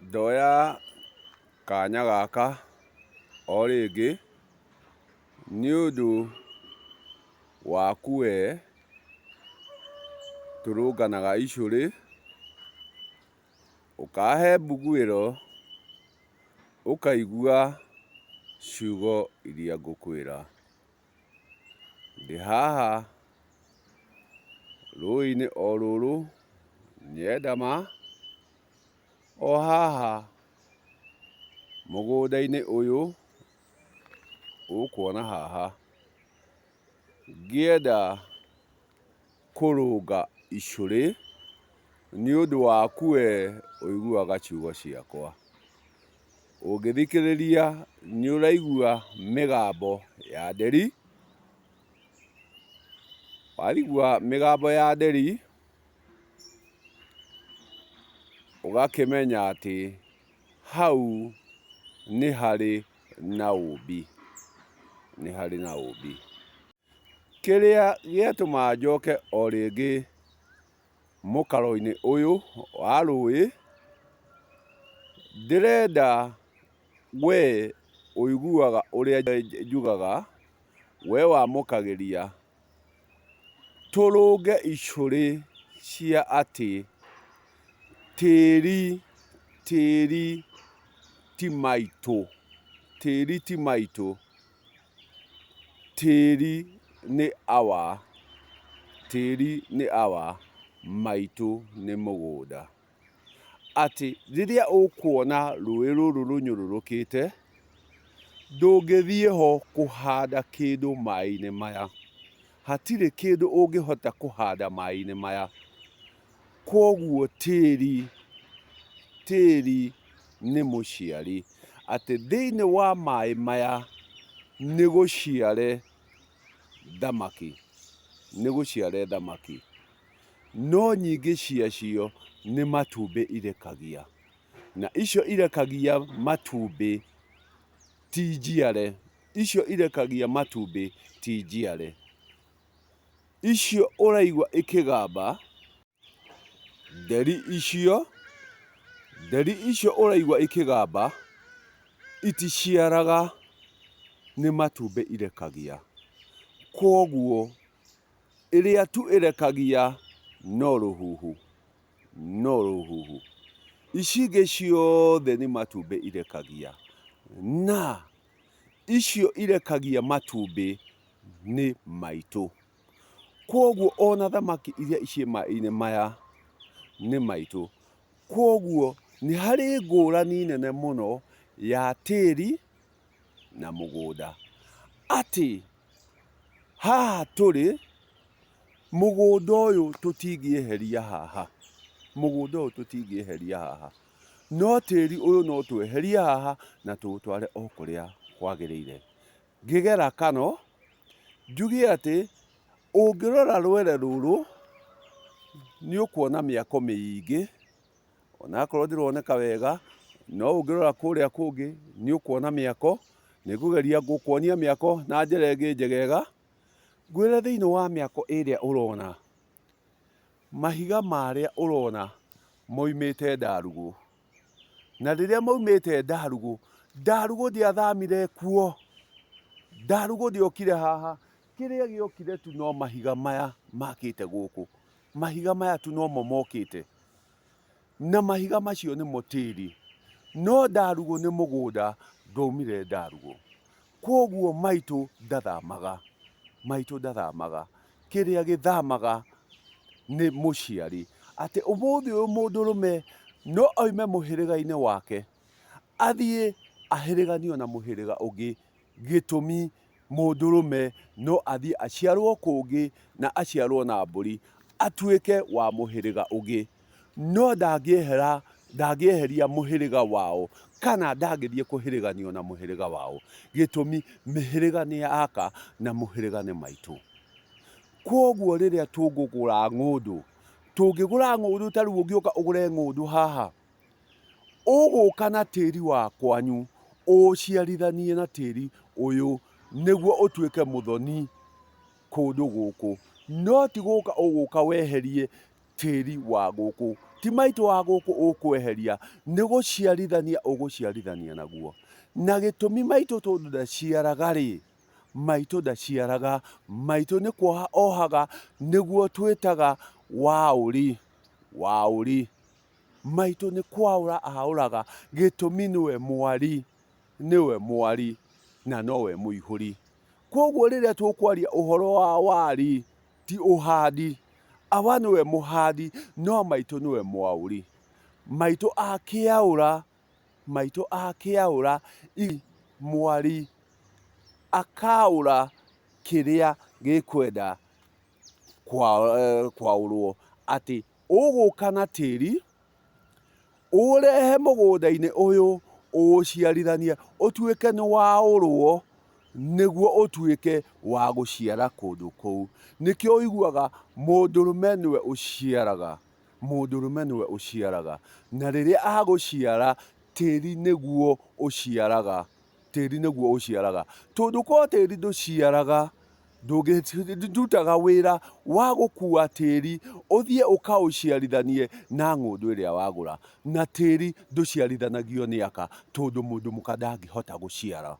Ndoya kanya gaka o rĩngĩ nĩ ũndũ waku we tũrũnganaga icũrĩ, ũkahe mbuguĩro ũkaigua ciugo iria ngũkwĩra. Ndĩ haha rũĩ-inĩ o rũrũ nyendama, o haha mũgũnda-inĩ ũyũ ũkuona haha, ngĩenda kũrũnga icũrĩ, nĩ ũndũ waku we ũiguaga ciugo ciakwa. Ũngĩthikĩrĩria nĩ ũraigua mĩgambo ya nderi, waigua mĩgambo ya nderi, ũgakĩmenya atĩ hau nĩ harĩ na ũũmbi, nĩ harĩ na ũũmbi. Kĩrĩa gĩatũmaga njoke o rĩngĩ mũkaro-inĩ ũyũ wa rũĩ, ndĩrenda we ũiguaga ũrĩa njugaga, we wamũkagĩria, tũrũnge icũrĩ cia atĩ tĩri, tĩri ti maitũ, tĩri ti maitũ. Tĩri nĩ awa, tĩri nĩ awa, maitũ nĩ mũgũnda. Atĩ rĩrĩa ũkuona rũĩ rũrũ rũnyũrũrũkĩte, ndũngĩthiĩ ho kũhanda kĩndũ maĩ-inĩ maya. Hatirĩ kĩndũ ũngĩhota kũhanda maĩ-inĩ maya. Kwoguo tĩri, tĩri nĩ mũciari. Atĩ thĩinĩ wa maĩ maya nĩ gũciare thamaki, nĩ gũciare thamaki. No nyingĩ cia cio nĩ matumbĩ irekagia. Na icio irekagia matumbĩ ti njiare, icio irekagia matumbĩ ti njiare. icio ũraigua ikĩgamba, nderi icio, nderi icio ũraigua ikĩgamba, iticiaraga nĩ matumbĩ irekagia. Kwoguo ĩrĩa tu ĩrekagia no rũhuhu, no rũhuhu. Ici ingĩ ciothe nĩ matumbĩ irekagia. Na... icio irekagia matumbĩ nĩ maitũ. Kwoguo ona thamaki iria ciĩ maĩ-inĩ maya nĩ maitũ. Kwoguo nĩ harĩ ngũrani nene mũno ya tĩri na mũgũnda. Atĩ haha tũrĩ, mũgũnda ũyũ tũtingĩeheria haha, mũgũnda ũyũ tũtingĩeheria haha. No tĩri ũyũ no tweherie haha na tũũtware o kũrĩa kwagĩrĩire. Ngĩgera kano, njuge atĩ ũngĩrora rwere rũrũ, nĩ ũkuona mĩako mĩingĩ, onakorwo ndĩroneka wega, no ũngĩrora kũrĩa kũngĩ nĩ ũkuona mĩako. Nĩ ngũgeria gũkuonia mĩako na njĩra ĩngĩ njegega, ngwĩre thĩinĩ wa mĩako ĩrĩa ũrona, mahiga marĩa ũrona moimĩte Ndarugũ. Na rĩrĩa maumĩte Ndarugũ, Ndarugũ ndiathamire kuo. Ndarugũ ndiokire haha, kĩrĩa gĩokire tu no mahiga maya makĩte gũkũ. Mahiga maya tu nomo mokĩte. Na mahiga macio nĩmo tĩri. No Ndarugũ nĩ mũgũnda, ndwaumire Ndarugũ. Kwoguo maitũ ndathamaga, maitũ ndathamaga. Kĩrĩa gĩthamaga nĩ mũciari. Atĩ ũmũthĩ ũyũ mũndũrũme no oime mũhĩrĩga-inĩ wake, athiĩ ahĩrĩganio na mũhĩrĩga ũngĩ, gĩtũmi mũndũrũme no athiĩ aciarwo kũngĩ, na aciarwo na mbũri, atuĩke wa mũhĩrĩga ũngĩ. no ndangĩeheria mũhĩrĩga wao kana ndangĩthiĩ kũhĩrĩganio na mũhĩrĩga wao, gĩtũmi mĩhĩrĩga nĩ ya Aka na mũhĩrĩga nĩ maitũ. Kwoguo rĩrĩa tũngũgũra ng'ũndũ, tũngĩgũra ng'ũndũ ta rĩu ũngĩũka ũgũre ng'ũndũ haha, ũgũka na tĩri wa kwanyu ũũciarithanie na tĩri ũyũ nĩguo ũtuĩke mũthoni kũndũ gũkũ, no ti gũka ũgũka weherie tĩri wa gũkũ. Ti maitũ wa gũkũ ũkweheria, nĩ gũciarithania ũgũciarithania naguo. Na gĩtũmi maitũ tondũ ndaciaraga rĩ, maitũ ndaciaraga, maitũ nĩ kuoha ohaga, nĩguo twĩtaga waũri, waũri. Maitũ nĩ kwaũra aũraga, gĩtũmi nĩwe mwari, nĩwe mwari na nowe mũihũri. Kwoguo rĩrĩa tũkwaria ũhoro wa wari, Ti ũhandi. Awa nĩwe mũhandi no maitũ nĩwe mwaũri. Maitũ akĩaũra, maitũ akĩaũra i mwari, akaũra kĩrĩa gĩkwenda kwaũrwo. Atĩ ũgũka na tĩri. ũũrehe mũgũnda-inĩ ũyũ, ũũciarithanie, ũtuĩke nĩ waũrwo, nĩguo ũtuĩke wa gũciara kũndũ kũu. Nĩkĩo ũiguaga mũndũrũme nĩwe ũciaraga, mũndũrũme nĩwe ũciaraga. Na rĩrĩa agũciara, tĩri nĩguo ũciaraga. tĩri nĩguo ũciaraga. Tondũ korwo tĩri ndũciaraga, ndũngĩrutaga wĩra wa gũkua tĩri ũthiĩ ũkaũciarithanie na ng'ũndũ ĩrĩa wagũra. Na tĩri ndũciarithanagio nĩ aka tondũ mũndũ mũka ndangĩhota gũciara.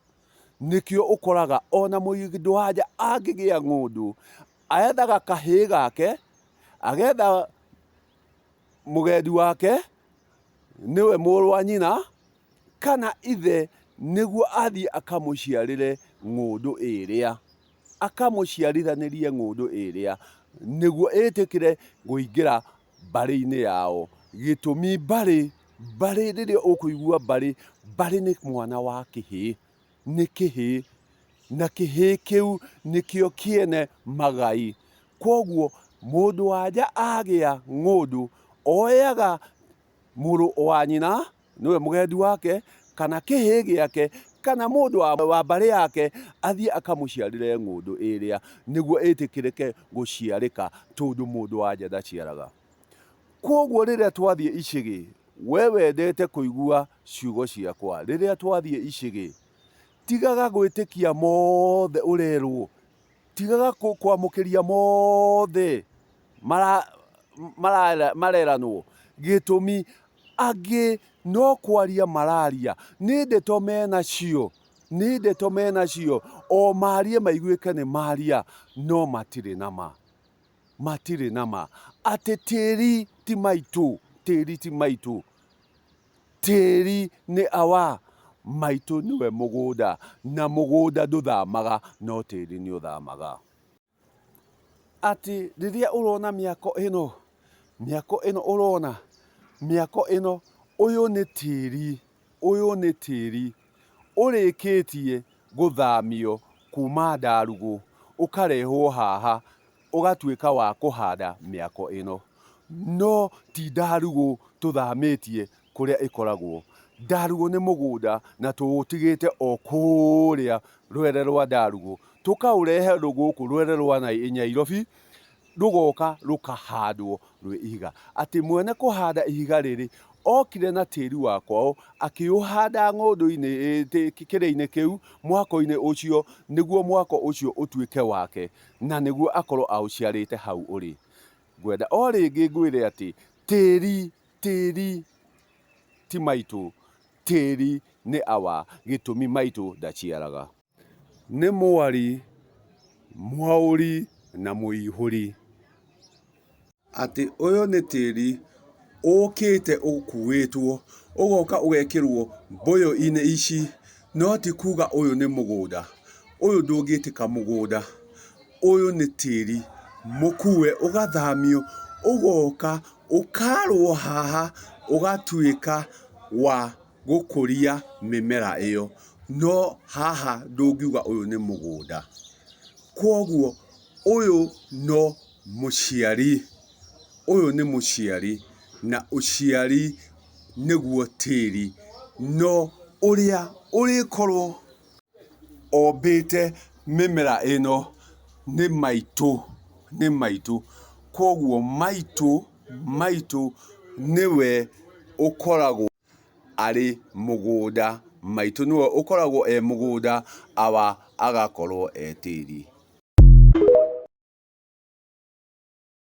Nĩkĩo ũkoraga ona mũndũ wa nja angĩgĩa ng'ũndũ, ethaga kahĩĩ gake, agetha mũgendi wake, nĩwe mũrũ wa nyina. kana ithe nĩguo athiĩ akamũciarĩre ng'ũndũ ĩrĩa, akamũciarithanĩrie ng'ũndũ ĩrĩa, nĩguo ĩtĩkĩre kũingĩra mbarĩ-inĩ yao. Gĩtũmi mbarĩ, mbarĩ rĩrĩa ũkũigua mbarĩ, mbarĩ nĩ mwana wa kĩhĩĩ, nĩ kĩhĩĩ, na kĩhĩĩ kĩu nĩkĩo kĩene magai. Kwoguo mũndũ-wa-nja agĩa ng'ũndũ, oyaga mũrũ wa nyina, nĩwe mũgendi wake, kana kĩhĩĩ gĩake, kana mũndũ wa, wa mbarĩ yake athiĩ akamũciarĩre ng'ũndũ ĩrĩa nĩguo ĩtĩkĩrĩke gũciarĩka tondũ mũndũ wa nja ndaciaraga kwoguo rĩrĩa twathiĩ icĩgĩ we wendete kũigua ciugo ciakwa rĩrĩa twathiĩ icĩgĩ tigaga gwĩtĩkia mothe ũrerwo tigaga kwamũkĩria mothe mareranwo gĩtũmi angĩ no kwaria mararia nĩ ndeto menacio nĩ ndeto menacio o marie maiguĩke nĩ maria no matirĩ nama matirĩ nama atĩ tĩri ti maitũ tĩri ti maitũ. Tĩri nĩ awa, maitũ nĩwe mũgũnda, na mũgũnda ndũthamaga no tĩri nĩ ũthamaga. Atĩ rĩrĩa ũrona mĩako ĩno, mĩako ĩno ũrona, mĩako ĩno, ũyũ nĩ tĩri, ũyũ nĩ tĩri ũrĩkĩtie gũthamio kuma Ndarugũ ũkarehwo haha ũgatuĩka wa kũhanda mĩako ĩno. No ti Ndarugũ tũthamĩtie kũrĩa ĩkoragwo. Ndarugũ nĩ mũgũnda na tũũtigĩte o kũrĩa rwere rwa Ndarugũ. Tũkaũrehe gũkũ rwere rwa Nyairobi, rũgoka rũkahandwo rwĩ ihiga. Atĩ mwene kũhanda ihiga rĩrĩ, okire na tĩri wa kwao, akĩũhanda ng'ũndũ-inĩ kĩrĩa-inĩ kĩu, mwako-inĩ ũcio, nĩguo mwako ũcio ũtuĩke wake. na nĩguo akorwo aũciarĩte hau ũrĩ. Ngwenda o rĩngĩ ngwĩre atĩ tĩri, tĩri ti maitũ, tĩri nĩ awa, gĩtũmi maitũ ndaciaraga. Nĩ mwari, mwaũri na mũihũri. atĩ ũyũ nĩ tĩri ũkĩte ũkuĩtwo ũgoka ũgekĩrwo mbũyũ-inĩ ici, no ti kuga ũyũ nĩ mũgũnda. Ũyũ ndũngĩtĩka mũgũnda, ũyũ nĩ tĩri mũkue ũgathamio ũgoka ũkarwo haha ũgatuĩka wa gũkũria mĩmera ĩyo, no haha ndũngiuga ũyũ nĩ mũgũnda. Kwoguo ũyũ no... Mũciari, ũyũ nĩ mũciari, na ũciari nĩguo tĩri, no ũrĩa ũrĩkorwo ombĩte mĩmera ĩno nĩ maitũ, nĩ maitũ, koguo maitũ, maitũ nĩwe ũkoragwo. arĩ mũgũnda, maitũ nĩwe ũkoragwo e mũgũnda, awa agakorwo e tĩri.